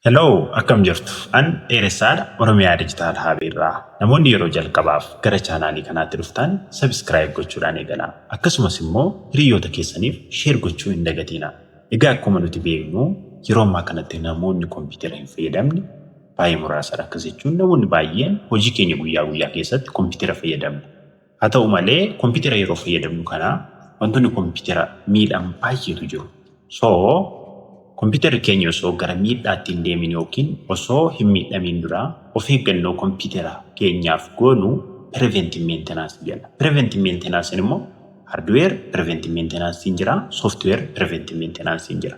Hello, akkam jirtu? An Dheeressaadha, Oromiyaa Digital Hub irraa. Namoonni yeroo jalqabaaf gara chaanaalii kanaatti dhuftan subscribe gochuudhaan eegalaa. Akkasumas immoo hiriyoota keessaniif share gochuu hin dagatiina. Egaa akkuma nuti beeknu yeroo ammaa kanatti namoonni kompiitara hin fayyadamne baay'ee muraasadha. Akkas jechuun namoonni baay'een hojii keenya guyyaa guyyaa keessatti kompiitara fayyadamna. Haa ta'u malee kompitera yeroo fayyadamnu kana wantoonni kompitera miidhan baay'eetu jiru. So kompiterri keenya osoo gara miidhaatti hin deemin yookiin osoo hin miidhamiin dura of eeggannoo kompitera keenyaaf goonu preventive maintenance jenna. Preventive maintenance immoo hardware preventive maintenance jira, software preventive maintenance jira.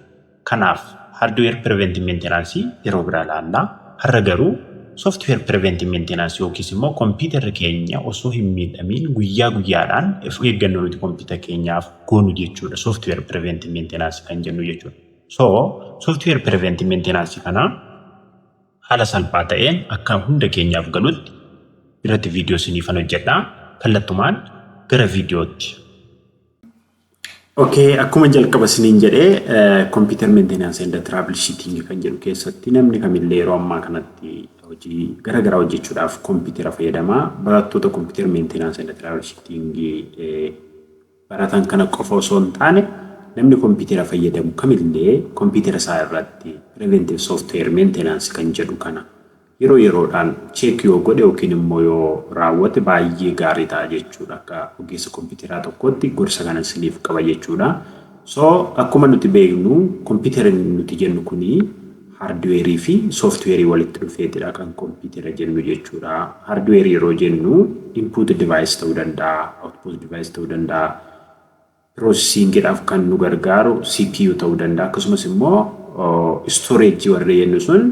Kanaaf hardware preventive maintenance yeroo biraa ilaalla. Har'a garuu software preventive maintenance yookiis immoo kompiitarri keenya osoo hin miidhamiin guyyaa guyyaadhaan of eeggannoo nuti kompiitara keenyaaf goonu jechuudha software preventive maintenance kan jennu jechuudha. So software preventive maintenance kana haala salphaa ta'een akka hunda keenyaaf galutti irratti viidiyoo isiniifan hojjedha. Kallattumaan gara viidiyootti. Okay, akkuma jalqaba isiniin jedhe computer maintenance and troubleshooting kan jedhu keessatti namni kamillee yeroo ammaa kanatti hojii gara garaa hojjechuudhaaf kompiitara fayyadama. Barattoota computer maintenance and troubleshooting eh, baratan kana qofa osoo hin taane namni kompiitara fayyadamu kamillee kompiitara isaa irratti preventive software maintenance kan jedhu kana Yeroo yeroodhaan check yoo godhe yookiin immoo yoo raawwate baay'ee gaarii ta'a jechuudha. Akka ogeessa kompiiteraa tokkootti gorsa kanan isiniif qaba jechuudha. So akkuma nuti beeknu kompiitera nuti jennu kuni hardware fi software walitti dhufeetidha kan kompiitera jennu jechuudha. Hardware yeroo jennu input device ta'uu danda'a, output device ta'uu danda'a. piroosesiingiidhaaf kan nu gargaaru CPU ta'uu danda'a. Akkasumas immoo istoreejii warri jennu sun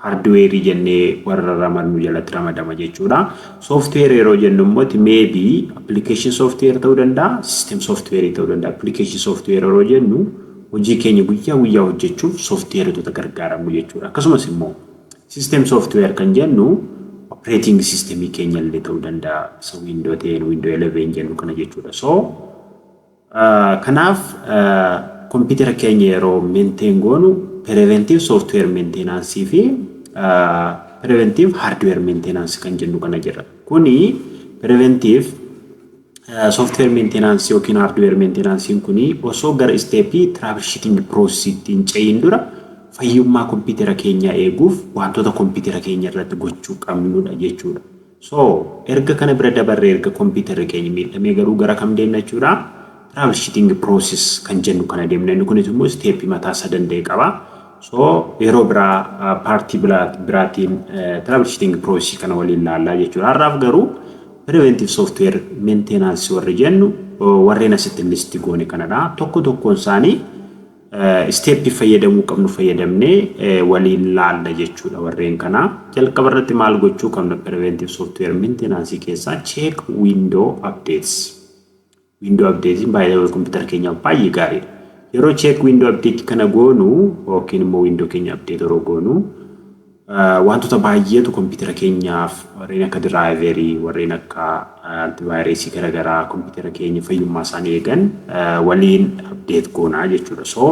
haardiweerii jennee warra ramadnu jalatti ramadama jechuudha. Sooftiweer yeroo jennu immoo ti meebi appilikeeshin sooftiweer ta'uu danda'a, siistem sooftiweerii ta'uu danda'a. Appilikeeshin sooftiweer yeroo jennu hojii keenya guyyaa guyyaa hojjechuuf sooftiweerotota gargaaramnu jechuudha. Akkasumas immoo System software kan jennu operating system keenya illee ta'uu danda'a. Isa window 10, window 11 jennu kana jechuudha. So kanaaf kompiitara keenya yeroo maintain goonu preventive software maintenance fi preventive hardware maintenance kan jennu kana jira. Kuni preventive Software maintenance yookiin hardware maintenance kun osoo gara step troubleshooting process hin ce'iin dura fayyummaa kompiitera keenyaa eeguuf wantoota kompiitera keenya irratti gochuu qabnudha jechuudha. So erga kana bira dabarree erga kompiiterri keenya miidhamee garuu gara kam deemna jechuudha? Troubleshooting process kan jennu kana deemna. Inni kunis immoo step mataa isaa danda'e qaba. So yeroo biraa paartii biraatiin troubleshooting process kana waliin laallaa jechuudha. Har'aaf garuu preventive software maintenance warri jennu warreen asitti listi goone kanadha. Tokko tokkoon isaanii isteeppii fayyadamuu qabnu fayyadamnee waliin laalla jechuudha warreen kana. Jalqaba irratti maal gochuu qabna preventive software maintenance keessaa check window updates. Window update by the way computer keenyaaf baay'ee gaariidha. Yeroo check window update kana goonu yookiin immoo window keenya update yeroo goonu wantoota baay'eetu computer keenyaaf warreen akka driver warreen akka antivirus garaagaraa computer keenya fayyummaa isaanii eegan waliin update goona jechuudha. So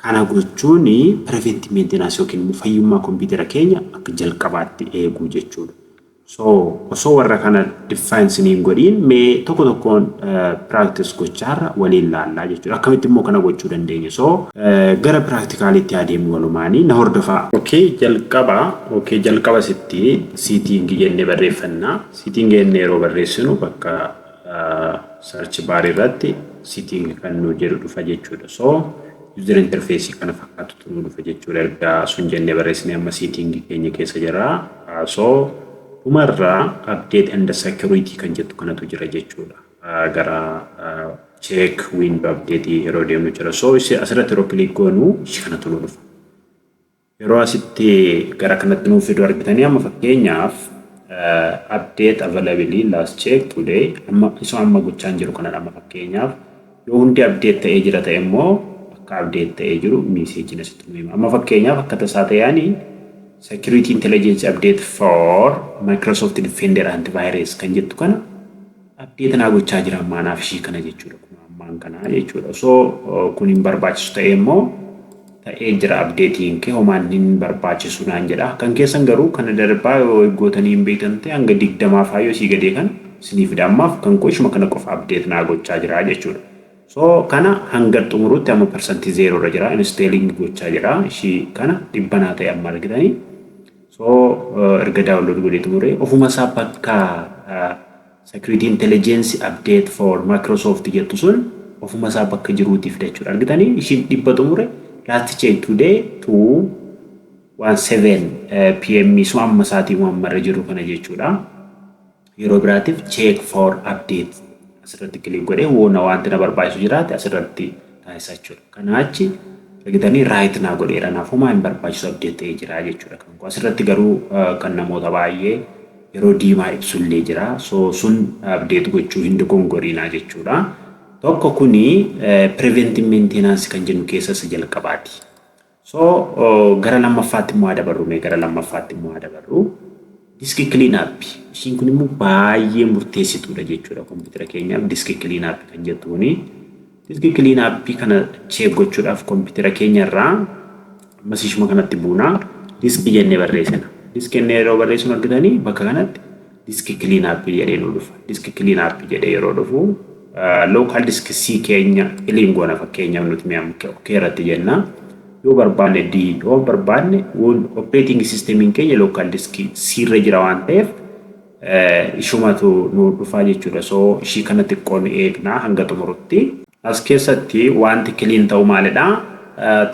kana gochuun prevent maintenance yookiin immoo fayyummaa computer keenya akka jalqabaatti eeguu jechuudha. So osoo warra kana define sinii hin godhiin mee tokko tokkoon practice gochaarra waliin laallaa jechuudha. Akkamitti immoo kana gochuu dandeenya? So gara practicalitti haa deemnu walumaanii na hordofaa. Okay jalqaba okay jalqaba sitti seating jennee barreeffanna. Seating jennee yeroo barreessinu bakka search bar irratti seating kan nu jedhu dhufa jechuudha. So User interface kana fakkaatutu nu dhufe jechuudha erga sun jennee barreessine amma setting keenya keessa jira so dhuma irra update and security kan jettu kanatu jira jechuudha gara check window update yeroo deemnu jira so asirratti yeroo click goonu kanatu nu dhufa Yeroo asitti gara kanatti nuuf fidu argitanii amma fakkeenyaaf update availability last check today amma isoo amma gochaan jiru kanadha amma fakkeenyaaf yoo hundi update ta'ee jira ta'e immoo akka update ta'ee jiru miiseejiin asitti nu hima amma fakkeenyaaf akka tasaa ta'eani security intelligence update for Microsoft Defender antivirus kan jettu kana update naa gochaa jira ammaa naaf ishii kana jechuudha kun ammaan kana jechuudha osoo kun hin barbaachisu ta'ee immoo ta'ee jira updatein kee homaan hin barbaachisu naan jedha kan keessan garuu kana darbaa yoo eeggootanii hin beektan ta'e hanga digdamaa faa yoo sii gadee kan sinii fida ammaaf kan koo ishuma kana qofa update naa gochaa jira jechuudha so kana hanga xumuruutti amma persantii zeeroo irra jira installing gochaa jira ishii kana dhibba naa ta'e amma argitanii So erga download godhee xumuree ofuma isaa bakka security intelligence update for Microsoft jettu sun ofuma isaa bakka jiruuti fida jechuudha. Argitanii ishiin dhibba xumure last check today to 17 pm suma amma isaatii uumammarra jiru kana jechuudha. Yeroo biraatiif check for update asirratti click godhee woo na wanti na barbaachisu jiraate asirratti taasisa jechuudha. Kanaa achi argitanii right naa godheera naaf homaa hin barbaachisu update ta'ee jira jechuudha kan koo. Asirratti garuu kan namoota baay'ee yeroo diimaa ibsu illee jira. So sun update gochuu hin dogongoriinaa jechuudha. Tokko kuni preventive maintenance kan jennu keessa isa jalqabaati. So gara lammaffaatti immoo haa dabarru mee gara lammaffaatti immoo haa dabarru. Diski clean up ishiin kun immoo baay'ee murteessituudha jechuudha kompiitara keenyaaf diski clean up kan jettu kuni. Diski clean up kana cheek gochuudhaaf kompiitara keenya irraa ammas ishuma kanatti buuna diski jennee barreessina. Diski jennee yeroo barreessinu argitanii bakka kanatti diski clean up jedhee nu dhufa. Diski clean up jedhee yeroo dhufu local disk C keenya clean goona fakkeenyaaf nuti mi'a OK irratti jenna. Yoo barbaanne D yoo barbaanne operating systemiin keenya local disk C irra jira waan ta'eef ishumatu nu dhufaa jechuudha. So ishii kana xiqqoo ni eegna hanga xumurutti. As keessatti wanti clean ta'u maalidha?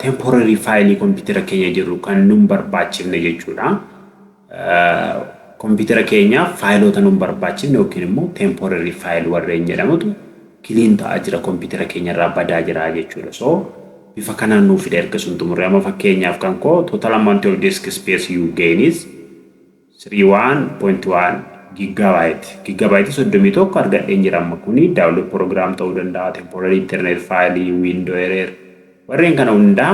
Temporary faayilii kompiitara keenya jiru kan nun barbaachifne jechuudha. Kompiitara keenyaaf faayiloota nun barbaachifne yookiin immoo temporary file warreen jedhamutu clean ta'aa jira kompiitara keenya irraa badaa jira jechuudha. So bifa kanaan nuuf fida erga sun xumurre amma fakkeenyaaf kan koo total amount of disk space you gain is 31.1 gigabyte gigabyte 31 argadheen jira amma kuni download program ta'uu danda'a temporary internet file window error Warreen kana hundaa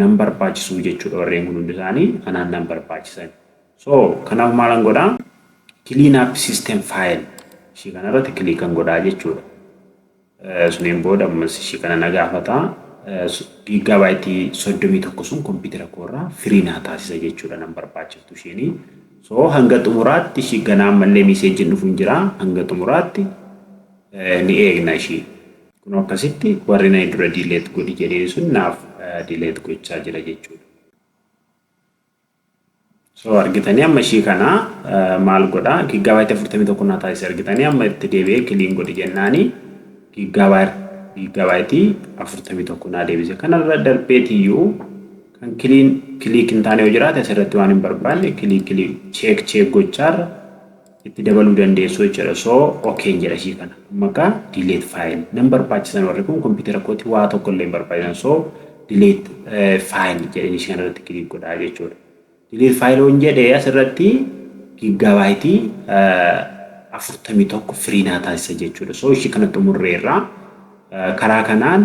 nan barbaachisuu jechuudha warreen kun hundi isaanii anaan nan barbaachisan. So kanaaf maalan godhaa clean up system file ishii kanarratti kiliikan godhaa jechuudha. Suniin booda ammas ishii kana na gaafata giiggaabaayitii soddomii tokko sun kompiitara koorraa firii naa taasisa jechuudha nan barbaachiftu isheenii. So hanga xumuraatti ishii ganaa ammallee miiseejjiin dhufu hin jira hanga xumuraatti ni eegna ishii. Kunoo akkasitti warri nayi dura delete godhi jedheen sun naaf delete gochaa jira jechuudha. So argitanii amma ishii kana maal godha giggaabaayiti afurtamii tokko naa taasise argitanii amma itti deebi'ee kiliin godhi jennaani giggaabaayiti afurtamii tokko naa deebise kanarra darbeetiyyuu kan kiliin kiliik hin taane yoo jiraate asirratti waan hin barbaanne kiliik kiliik cheek cheek gochaarra itti dabaluu dandeessu jechuudha so okeen jedha ishii kana amma akka delete file nan barbaachisan warri kun kompiitara kooti waa tokko illee hin barbaachisan so delete file jedheen ishii kanarratti kiliik godhaa jechuudha delete file on jedhee asirratti giggabaayitii afurtamii tokko firii naa taasisa jechuudha so ishii kana xumurreerraa Karaa kanaan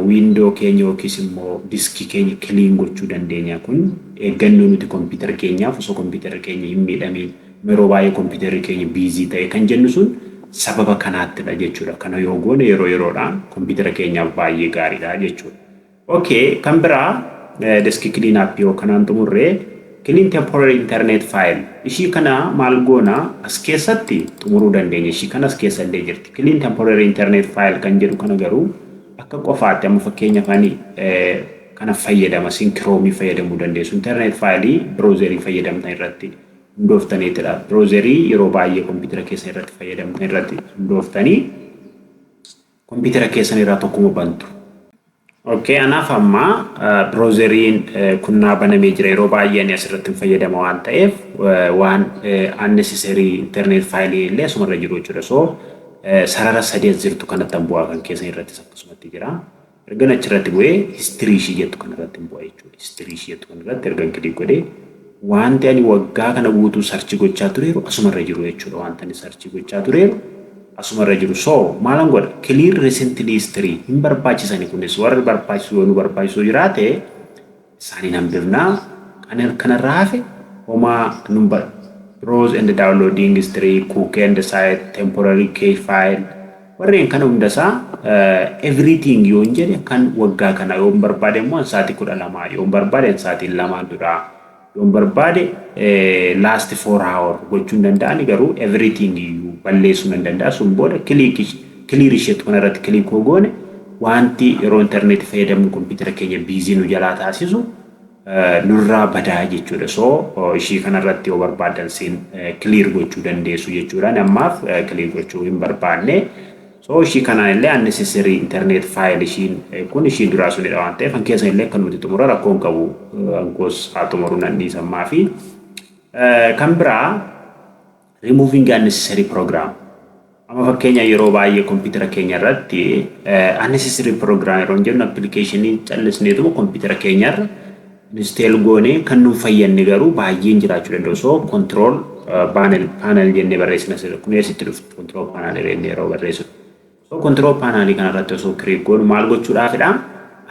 window keenya yookiis immoo disk keenya clean gochuu dandeenya. Kun eeggannoo nuti computer keenyaaf osoo computer keenya hin miidhamiin yeroo baay'ee computer keenya busy ta'e kan jennu sun sababa kanaattidha jechuudha. Kana yoo goone yeroo yeroodhaan computer keenyaaf baay'ee gaariidha jechuudha. Ok kan biraa desk clean app yoo kanaan xumurre clean temporary internet file ishii kana maal goona as keessatti xumuruu dandeenya ishii kana as keessa illee jirti clean temporary internet file kan jedhu kana garuu akka qofaatti amma fakkeenya afaan kana fayyadama sin kiroomii fayyadamuu dandeessu internet file browserii fayyadamtan irratti hundooftaniitidha browserii yeroo baay'ee kompiitara keessa irratti fayyadamtan irratti hundooftanii Kompiitara keessan irraa tokkuma bantu. Ok anaaf amma browseriin kun naa banamee jira yeroo baay'ee ani asirratti hin fayyadama waan ta'eef waan unnecessary internet file illee asumarra jiru jechuudha so sarara sadii as jirtu kanatti an bu'aa kan keessan irrattis akkasumatti jira ergan achirratti bu'ee history ishii jettu kanarratti hin bu'a jechuudha history ishii jettu kanarratti ergan click godhee Waanti ani waggaa kana guutuu search gochaa tureeru asuma irra jiru jechuudha waanti ani search gochaa tureeru asuma irra jiru so maalan godha clear recently history hin barbaachisani kunis warri barbaachisu yoo nu barbaachisu jiraate isaaniin hambifna kan kanarraa hafe homaa nun bar browse and downloading history cook and site temporary cache file Warreen kana hunda isaa everything yoon jedhe kan waggaa kana yoon barbaade immoo an sa'aatii kudha lamaa yoon barbaade an sa'aatiin lamaan duraa yoon barbaade last four hour gochuu hin danda'ani garuu everything iyyuu balleessuu nan danda'a sun booda click clear isheetti kana irratti click hoo goone wanti yeroo interneetii fayyadamnu kompiitara keenya biizii nu jalaa taasisu nurraa badaa jechuudha. So ishii kanarratti yoo barbaaddan siin clear gochuu dandeessu jechuudha. Ani ammaaf clear gochuu hin barbaanne. So ishii kanaan illee unnecessary internet file ishiin kun ishiin duraa sunidha waan ta'eef kan keessan illee kan nuti xumura rakkoo hin qabu. Ankoos haa xumuru nan dhiisammaa fi kan biraa Removing unnecessary program Amma fakkeenya yeroo baay'ee kompiitara keenya irratti unnecessary program yeroo jennu appilikeeshinii callisneetuma kompiitara keenya irra insteel goonee kan nuun fayyadne garuu baay'een jiraachuu danda'u. So control panel panel jennee barreessina kun eessitti dhufti control panel jennee yeroo barreessinu. So control panel kana irratti osoo click goonu maal gochuudhaafidha?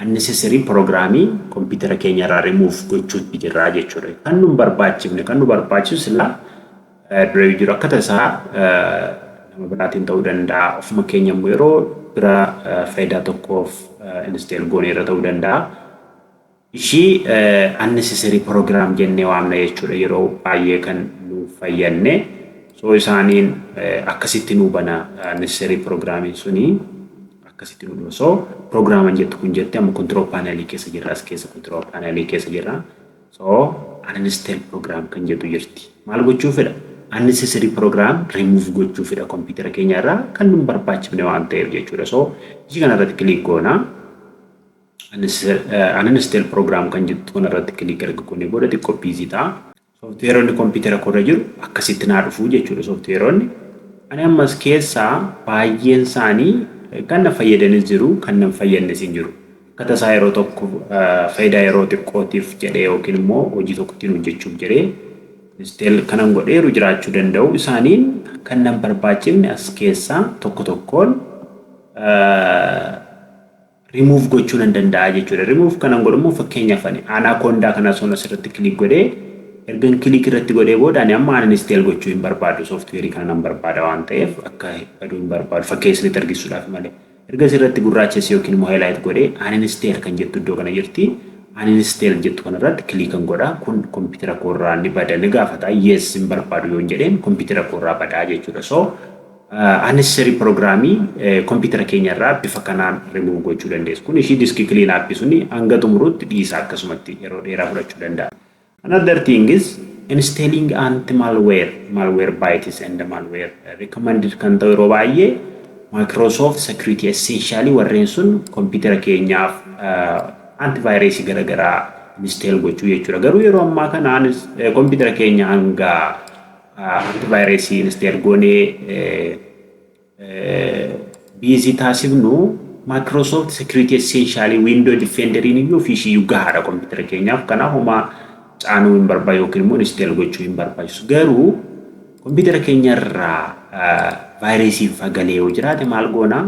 Unnecessary programmii computer keenya irraa remove gochuutti jirra jechuudha. Kan nu hin barbaachifne kan nu barbaachisu silaa dura jiru akka tasaa nama biraatiin ta'uu danda'a. Ofuma keenya immoo yeroo bira faayidaa tokkoof install goone irra ta'uu danda'a. Ishii unnecessary program jennee waamna jechuudha yeroo baayyee kan nuuf fayyanne so isaaniin akkasitti nuu bana necessary programin suni akkasitti nu dhuma so programan jettu kun jette amma control panel keessa jirra as keessa control panel keessa jirra so uninstall program kan jettu jirti maal gochuu fedha unnecessary program remove gochuu fedha kompiitara keenya irraa kan nun barbaachifne waan ta'eef jechuudha so ishii kana irratti click goona Uninstall program kan jettu kana irratti click erga goonee booda xiqqoo busy ta'a. Sooftiweeronni kompiitara koorra jiru akkasitti naa dhufu jechuudha sooftiweeronni. Ani ammas keessaa baay'een isaanii kan na fayyadanis jiru kan nan fayyadnes hin jiru. Akka tasaa yeroo tokko faayidaa yeroo xiqqootiif jedhee yookiin immoo hojii tokko ittiin hojjechuuf jedhee uninstall kanan godheeru jiraachuu danda'u. Isaaniin kan nan barbaachifne as keessaa tokko tokkoon remove gochuu nan danda'a jechuudha. Remove kanan godhu immoo fakkeenyaaf ani anaconda kana osoon asirratti click godhee ergan click irratti godhee booda ani amma uninstall gochuu hin barbaadu software kana nan barbaada waan ta'eef akka baduu hin barbaadu fakkeenya isinitti argisiisuudhaaf malee. Erga asirratti gurraachessi yookiin immoo highlight godhee uninstall kan jettu iddoo kana jirti. Uninstall jettu kanarratti click kan godha kun kompiitara koorraa ni bada ni gaafata yes hin barbaadu yoon jedheen kompiitara koorraa badaa jechuudha. So Unnecessary program computer keenya irraa bifa kanaan remove gochuu dandeessu. Kun ishii disk clean app suni hanga xumurutti dhiisa akkasumatti yeroo dheeraa fudhachuu danda'a. Another thing is installing anti malware, malware bytes and malware recommended kan ta'u yeroo baay'ee Microsoft Security Essential warreen sun computer keenyaaf antivirus garagaraa install gochuu jechuudha. Garuu yeroo ammaa kana computer keenya hanga Anti virus install goonee busy taasifnu Microsoft Security Essential Window Defender iyyuu ofii ishiiyyuu gahaadha kompiitara keenyaaf. Kanaaf homaa caanuu hin barbaachisu yookiin immoo install gochuu hin barbaachisu. Garuu kompiitara keenya irraa vaayiresiin fagalee yoo jiraate maal goona?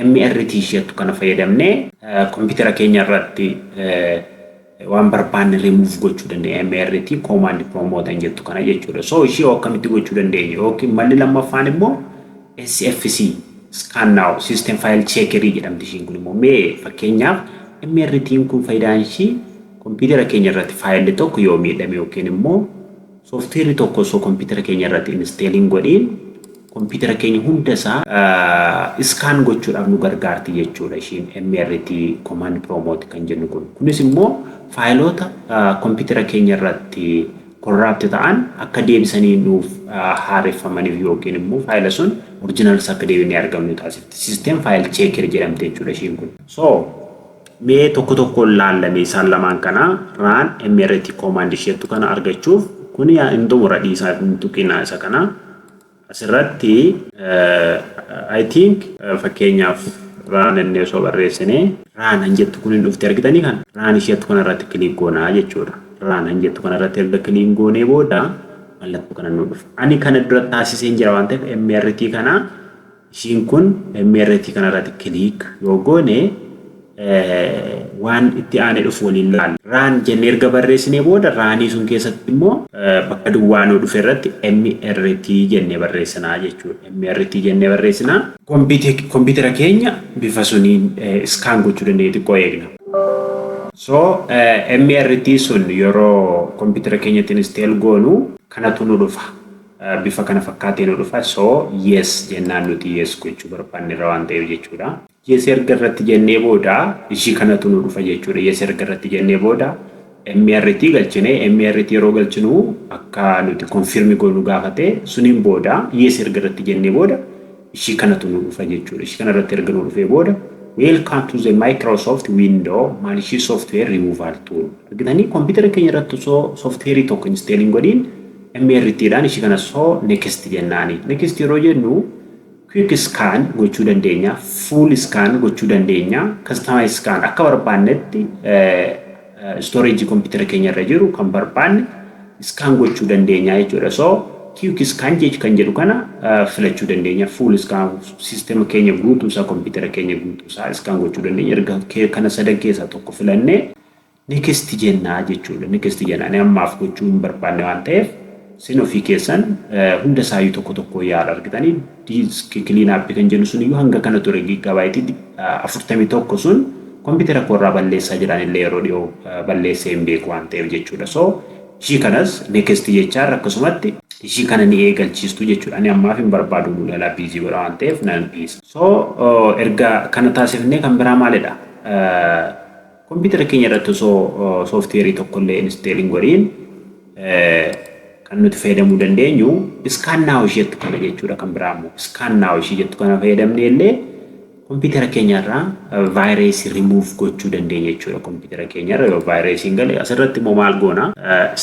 MRT isheettu kana fayyadamnee kompiitara keenya irratti waan barbaanne remove gochuu dandeenya mrt command promote an jettu kana jechuudha so ishii hoo akkamitti gochuu dandeenya yookiin malli lammaffaan immoo sfc scan now system file checker jedhamti ishiin kun immoo mee fakkeenyaaf mrt kun faayidaan ishii kompiitara keenya irratti faayilli tokko yoo miidhame yookiin immoo Software tokko osoo computer keenya irratti installing godhi computer keenya hunda isaa scan gochuudhaaf nu gargaarti jechuudha ishiin MRT command promote kan jennu kun. Kunis immoo faayiloota computer keenya irratti corrupt ta'an akka deebisanii nuuf haareffamaniif yookiin immoo faayila sun original isaa akka deebinee argannu taasifti. System file checker jedhamti jechuudha ishiin kun. So Mee tokko tokkoon laalla mee isaan lamaan kana run mrt command isheettu kana argachuuf kun yaa hin xumura dhiisaa hin tuqinaa isa kana asirratti I think fakkeenyaaf run inni osoo barreessine run hin jettu kun hin dhufte argitanii kan run isheettu kana irratti kiliik goonaa jechuudha run hin jettu kana irratti erga kiliin goonee booda mallattoo kana nu dhufa ani kana dura taasiseen jira waan ta'eef mrt kana Ishiin kun MRT kana irratti click yoo goone waan itti aanee dhufu waliin laalla. Run jennee erga barreessinee booda raanii sun keessatti immoo bakka duwwaa nuu dhufe irratti MRT jennee barreessina jechuudha. MRT jennee barreessina. Kompiitera keenya bifa suniin scan gochuu dandeenya xiqqoo eegna. So MRT sun yeroo kompiitera keenyatti install goonu kanatu nu dhufa. bifa kana fakkaatee nu dhufa so yes jennaan nuti yes gochuu barbaanne irra waan ta'eef jechuudha. Yes erga irratti jennee booda ishii kanatu nu dhufa jechuudha. Yes erga irratti jennee booda MRT galchine MRT yeroo galchinu akka nuti confirm goonu gaafate suniin booda yes erga irratti jennee booda ishii kanatu nu dhufa jechuudha. Ishii kana irratti erga nu dhufee booda Welcome to the Microsoft Window maal ishii software removal tool argitanii kompiitara keenya irratti osoo software tokko install hin godhiin MRT dhaan ishii kana so next jennaani. Next yeroo jennu quick scan gochuu dandeenya, full scan gochuu dandeenya, customize scan akka barbaannetti storage computer keenya irra jiru kan barbaanne scan gochuu dandeenya jechuudha. So quick scan jechu kan jedhu kana filachuu dandeenya. Full scan system keenya guutuu isaa computer keenya guutuu isaa scan gochuu dandeenya. Erga kana sadan keessaa tokko filannee next jennaa jechuudha. Next jenna. Ani ammaaf gochuu hin barbaanne waan ta'eef sin ofii keessan hunda isaayyuu tokko tokko yaal argitanii diiski kiliin aappii kan jennu sun iyyuu hanga kana ture giiggaabaayitii afurtamii tokko sun kompiitara koorraa balleessaa jiraan illee yeroo dhiyoo balleessee hin beeku waan ta'eef jechuudha. So ishii kanas next jechaan akkasumatti ishii kana ni eegalchiistu jechuudha. Ani ammaaf hin barbaadu nu jalaa biizii godha waan ta'eef nan dhiisa. So erga kana taasifnee kan biraa maalidha? Kompiitara keenya irratti osoo sooftiweerii tokkollee install hin godhiin kan nuti fayyadamuu dandeenyu scan now ishii jettu kana jechuudha kan biraa immoo scan now ishii jettu kana fayyadamnee illee kompiitara keenya irraa vaayireesii remove gochuu dandeenya jechuudha kompiitara keenya irra yoo vaayireesiin gale asirratti immoo maal goona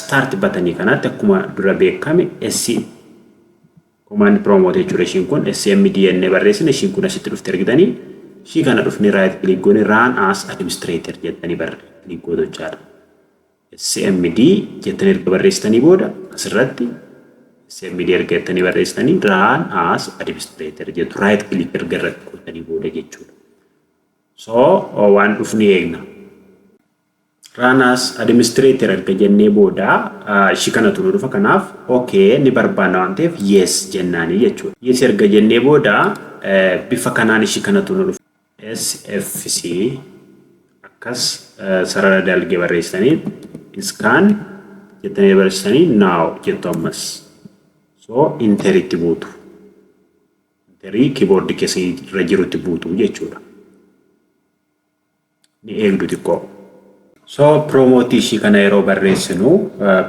start batanii kanatti akkuma dura beekame SC Command promote jechuudha ishiin kun SMD jennee barreessina ishiin kun asitti dhufte argitanii ishii kana dhufnee right click goone run as administrator jettanii bar click gootu jechaadha. SMD jettanii erga barreessitanii booda asirratti SMD erga jettanii barreessitanii run as administrator jettu right click erga irratti gootanii booda jechuudha. So waan dhufnee eegna. Run as administrator erga jennee booda ishii kanatu nu dhufa kanaaf ok ni barbaanna waan ta'eef yes jennaanii jechuudha. Yes erga jennee booda bifa kanaan ishii kanatu nu dhufa. SFC akkas sarara dalgee barreessanii iskaan jettanii barreessanii now jettu ammas. So interitti buutu. Interii kiiboordii keessa irra jirutti buutu jechuudha. ni eegdu xiqqoo. So piroomoottii ishii kana yeroo barreessinu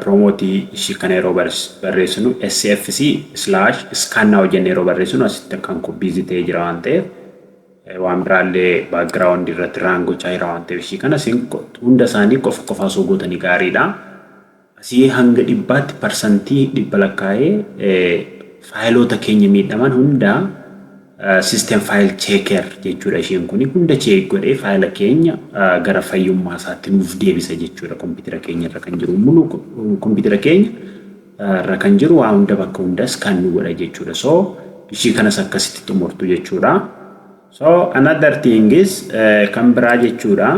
piroomoottii ishii kana yeroo barreessinu sfc slash scan now jenne yeroo barreessinu asitti akkan kun biizii ta'ee jira waan ta'eef waan biraallee baakgiraawundi irratti raan gochaa jira waan ta'eef ishii kana isin hunda isaanii qofa qofa osoo gootanii gaariidha. Asii hanga dhibbaatti parsantii dhibba lakkaa'ee faayiloota keenya miidhaman hunda system file checker jechuudha isheen kuni hunda cheek godhee faayila keenya gara fayyummaa isaatti nuuf deebisa jechuudha kompiitara keenya irra kan jiru mulu kompiitara keenya irra kan jiru waa hunda bakka hundas kan nu godha jechuudha so ishii kanas akkasitti xumurtu jechuudha. So another thing is kan biraa jechuudha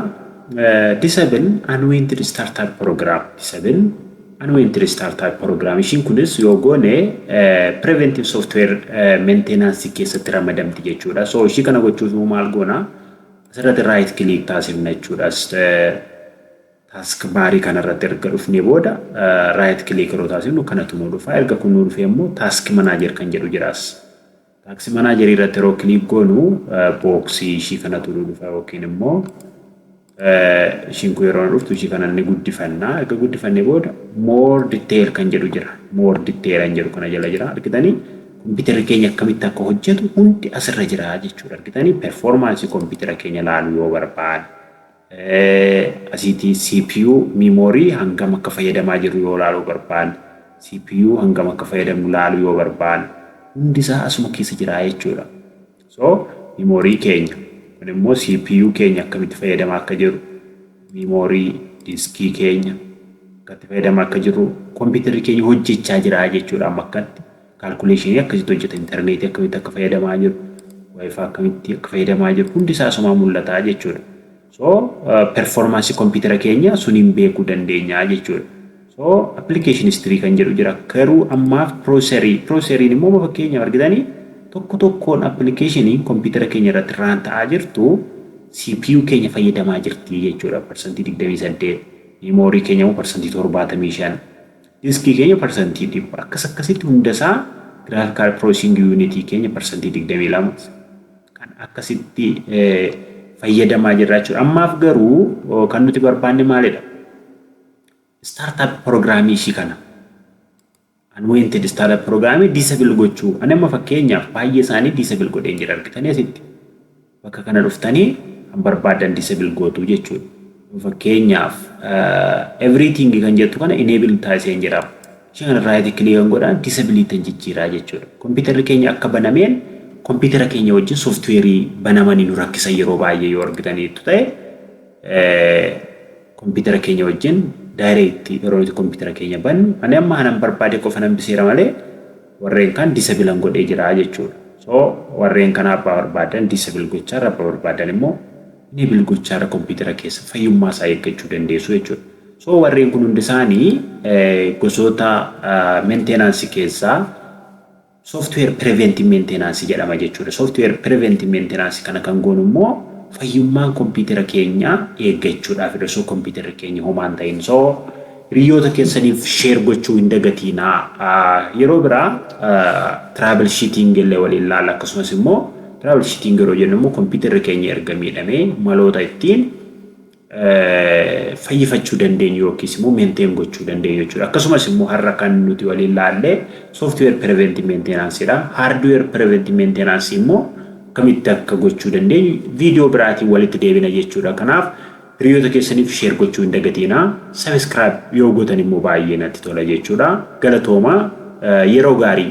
disable unwanted startup program disable unwanted startup program ishiin kunis yoo goone preventive software maintenance keessatti ramadamti jechuudha so ishii kana gochuuf immoo maal goona asirratti right click taasifna jechuudha task baarii kanarratti erga dhufnee booda right click yeroo taasifnu kanatu nu dhufa erga kun nu dhufee immoo task manager kan jedhu jiraas. Taaksi manaajerii irratti yeroo kiliik goonu booksii ishii kanatu nu dhufa yookiin immoo ishiin kun yeroo dhuftu ishii kana ni guddifanna. Erga guddifannee booda more detail kan jedhu jira. More detail kan jedhu kana jala jira. Argitanii kompiitarri keenya akkamitti akka hojjetu hundi asirra jira jechuudha. Argitanii performaansii kompiitara keenya laaluu yoo barbaanne. Asiiti CPU memory hangam akka fayyadamaa jirru yoo laaluu barbaanne, CPU hangam akka fayyadamnu laaluu yoo barbaanne hundi isaa asuma keessa jira jechuudha. So memory keenya kun immoo CPU keenya akkamitti fayyadamaa akka jirru memory diskii keenya akkatti fayyadamaa akka jirru kompiitarri keenya hojjechaa jira jechuudha amma akkatti. calculation akkasitti hojjeta interneetii akkamitti akka fayyadamaa jiru wifi akkamitti akka fayyadamaa jiru hundi isaa asumaa mul'ata jechuudha so performance computer keenya suniin beekuu dandeenya jechuudha so application history kan jedhu jira garuu ammaaf processor processor immoo fakkeenyaaf argitanii tokko tokkoon application computer keenya irratti raan ta'aa jirtu CPU keenya fayyadamaa jirti jechuudha parsantii 28 memory keenya immoo parsantii 75 Diskii keenya parsantii 100 akkas akkasitti hunda isaa Graphical Processing Unit keenya parsantii 22 kan akkasitti fayyadamaa jirra jechuudha. Ammaaf garuu kan nuti barbaanne maalidha? Startup programmii ishii kana unwanted startup programmii disable gochuu. Ani amma fakkeenyaaf baay'ee isaanii disable godheen jira argitanii asitti. bakka kana dhuftanii kan barbaaddan disable gootu jechuudha. Yoo fakkeenyaaf everything kan jettu kana enable taasiseen jira. Ishee kana right click kan godhaan disable ittiin jijjiiraa jechuudha. Kompiitarri keenya akka banameen kompiitara keenya wajjin sooftiweerii banamanii nu rakkisan yeroo baay'ee yoo argitaniittu ta'e kompiitara keenya wajjin daayireektii yeroo nuti kompiitara keenya bannu ani amma kanan barbaade qofa nan biseera malee warreen kan disabilan godhee jira jechuudha. So warreen kana abbaa barbaadan disabil gochaarra abba barbaadan immoo enable gochaarra kompiitara keessa fayyummaa isaa eeggachuu dandeessu jechuudha. So warreen kun hundi isaanii gosoota meentenaansi keessaa software preventive meentenaansi jedhama jechuudha. Software preventive meentenaansi kana kan goonu immoo fayyummaan kompiitara keenyaa eeggachuudhaafidha. So kompiitarri keenya homaan ta'in so Hiriyyoota keessaniif share gochuu hin dagatiinaa. Yeroo biraa travel sheeting illee waliin laalla akkasumas immoo travel sheeting yeroo jennu immoo kompiitarri keenya erga miidhamee maloota ittiin fayyifachuu dandeenyu yookiis immoo maintain gochuu dandeenyu jechuudha. Akkasumas immoo har'a kan nuti waliin laallee software preventive maintenance dha. Hardware preventive maintenance immoo akkamitti akka gochuu dandeenyu viidiyoo biraatiin walitti deebina jechuudha. Kanaaf Hiriyoota keessaniif share gochuu hin dagatiina. Subscribe yoo gotan immoo baay'ee natti tola jechuudha. Galatoomaa yeroo gaarii.